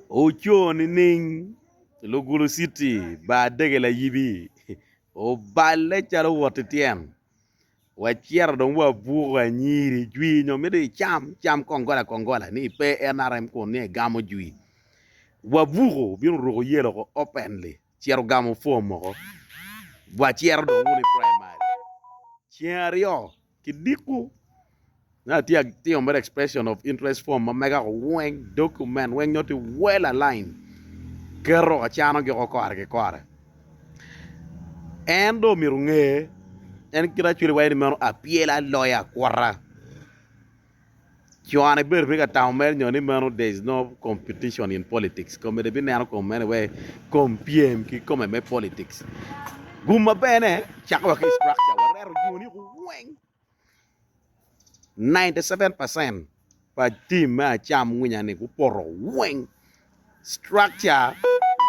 Oco nining? Lugulu citi bar dege layibi oballe calo owot ki tyen wacito dong wabuko anyiri jwi nyo mito icam cam kongola kongola ni pe nrm kun ni egamo jwi wabuko obino oruko yelo ko openly cito ogamo form moko wacito dong wunu i primary ceng aryo. kidiko na tye tye mere expression of interest form ma mega ko weng document weng nyo tye well aligned keto acano gi ko kore ki kore en do mito nge en kit acwele wa en meno apyel aloya kwota Cone ibedo pe ka tamo mere nyo ni meno there is no competition in politics. Kome de bineno kom mene we kom pyem ki kome me politics. Gum maber ne, cako wa ki structure, wareto jo ni weng 97% pa team me acam winya ni gupoto weng. Structure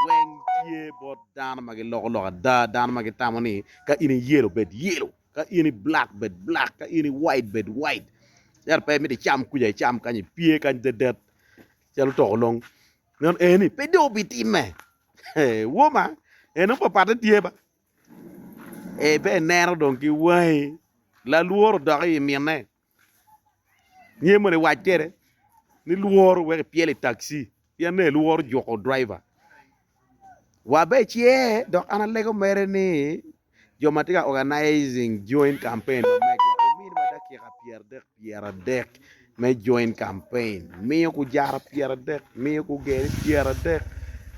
weng tye bot dano ma giloko lok ada, dano ma gitamo ni ka in iyelo bed yelo. Ka in i black bed black, ka in i white bed white. Yat pe miti cam kuja icam kany ipye kany dedet calo toko long. Meno eni pe dong obitimme. Woma, eno papatte tye ba. E be ineno dong ki wangi. Lalworo dok i minne. Niye mono iwac kwede ni lworo wek ipyelo i takci pien nongo ilworo juko driver wa bene ce dok an alego mere ni jo ma tye ka organizing joint campaign ma mega ominiwa dakika pyeradek pyeradek me joint campaign miyo gujara pyeradek miyo gugene pyeradek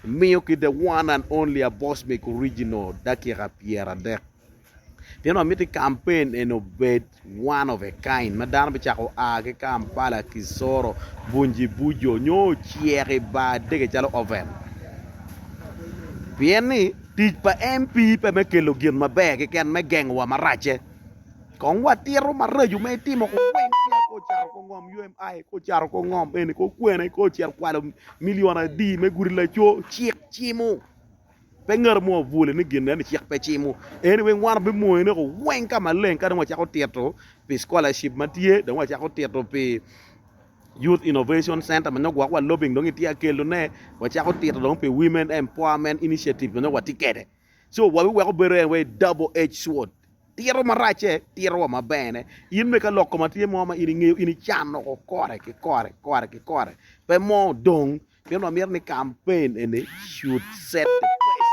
miyo ki the one and only abosmeg original dakika pyeradek. Pien wamito ni kampen eni obed one of a kind ma dano bicako a ki Kampala, Kisoro, Bunjibujo nyo ocek i bar dege calo oven. Pien ni tic pa MP pe me kelo gin maber keken me gengo wa maracce. Kong watito maraco ma itimo ko weng tye ko caro ko ngom UMI, ko caro ko ngom eni, ko kwena, ko cito kwalo milion adi me gudi laco, cik cimo. Pe ngato mo abwole ni gin eni cik pe cimo. Eni weng wan wabimonyo neko weng ka maleng ka dong wacako tito pi scholarship ma tye, dong wacako tito pi Youth Innovation Center ma nyo gwok wa lobbying dong itye akelo ne, wacako tito dong pi Women Empowerment Initiative ma nyo watye kede. So wabiweko bedo en wai double edge sword. Tito maracce, tito wa maber ne. In me ka lok koma tye mo ma in ingeyo, in icano ko kore ki kore, kore ki kore. Pe mo dong. Pien wa mito ni campaign eni should set the pace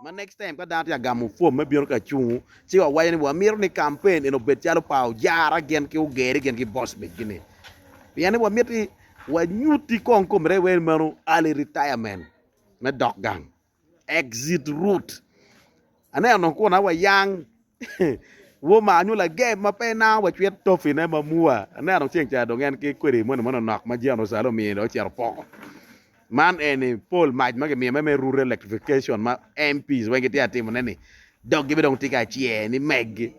ma next time ka dano tye ka gamo form me bino ka cungu ci wa waco ni wa mito ni campaign eni obed calo pa Ojara gin ki Ogeri gin ki Bosbik gini. Pien ni wa miti wa nyuti kong komine wer meno early retirement me dok gang. Exit Route. Aneno kun awa yang Woma nyo lagem ma pe na wacwit tofine ma mua. Aneno ceng ca dong en ki kwede moni moni nok ma Jeno Salo omiyo dong ocito poko. Man eni pol mac ma gimiyo me me rural electrification ma MPs weng gitye ka timone ni dog gibi dong tye ka cye ni meggi.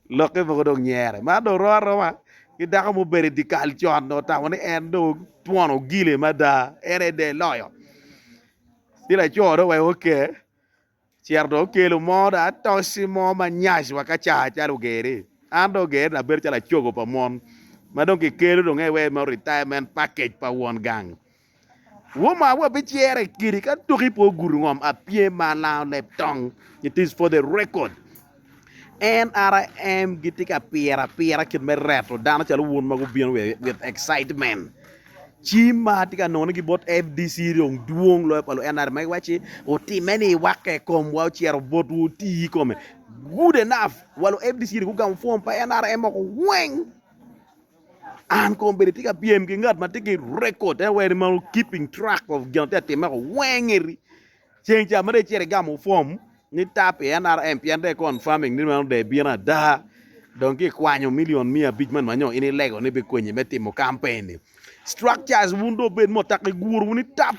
Lokke mogo dong nyere. Mar dong oro aroma. ki dako ma obedo i dyekal con dong otamo ni en dong twon ogile mada en aye der loyo ci laco dong oweko oke ocito dong okelo mo dong atoci mo ma nyac wa kaca calo ogeri an dong ogera ni abedo calo acogo pa mon ma dong kikelo dong en aye mere retirement package pa won gang. Woma wa bicere kidi ka tuki po gudu ngom apye ma lango leb tong. It is for the record. NRM gitye ka pire apira kit me reto dano calo wun ma gubino with excitement. Cim ma atye ka nongo ni ki bot FDC dong dwong loyo pa lu NRM ma giwaci utime ni iwakke kom wa ocero bot wu oti kome. Good enough. Wa lu FDC dong gugamo form pa NRM oko weng. An kong bedi tye ka pyem ki ngat ma tye ki rekod te weri ma keeping track of gin tye atime ko weng eri ceng ca mere cere gamo fom ni tap i NRM pien de confirming ni mano de bino ada dong ki kwanyo milion mia abic man manyo in ilego ni bikonyi me timo kampen ni structures wun do bed mo tak iguru ni tap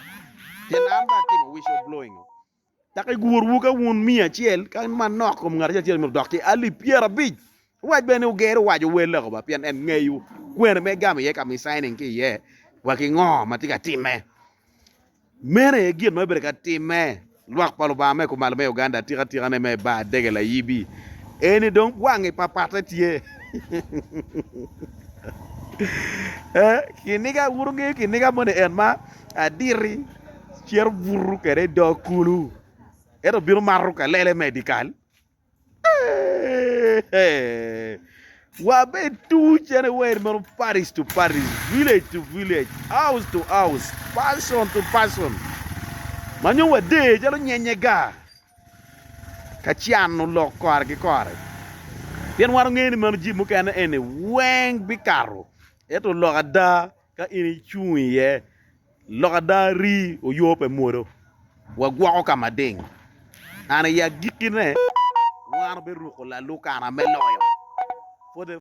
cen an ba atimo whistle blowing Dok igurwu ka wun miya acel, ka manok kom ngat acel myero odok ki alip pyerabic. Owac bene ni oger owac owel loko ba pien en ngeyo kwene ma egamo iye ka misainin ki iye wa ki ngo ma tye ka timme. Meno aye gin ma bibedo ka timme lwak pa Lubanga me kumalo me Uganda atika atika ne me bar dege layibi eni dong wangi papate tye. Kiniga wun wungeyo kiniga moni en ma aditi. Cito buto kwede i dog kulu, ento bino mato kalele me i dye kal. Wabed tuc en iwer meno Paris to Paris, village to village, house to house, person to person. Ma nyo wade calo nyenye ga. Ka cano lok kore ki kore. Pien wan ongeyo ni meno jib mukene eni weng bikato. Eto lok ada ka in icung iye Lok ada rii oyo pe mwodo wa gwoko ka mading and i agikki ne wan obiruko lalukana me loyo.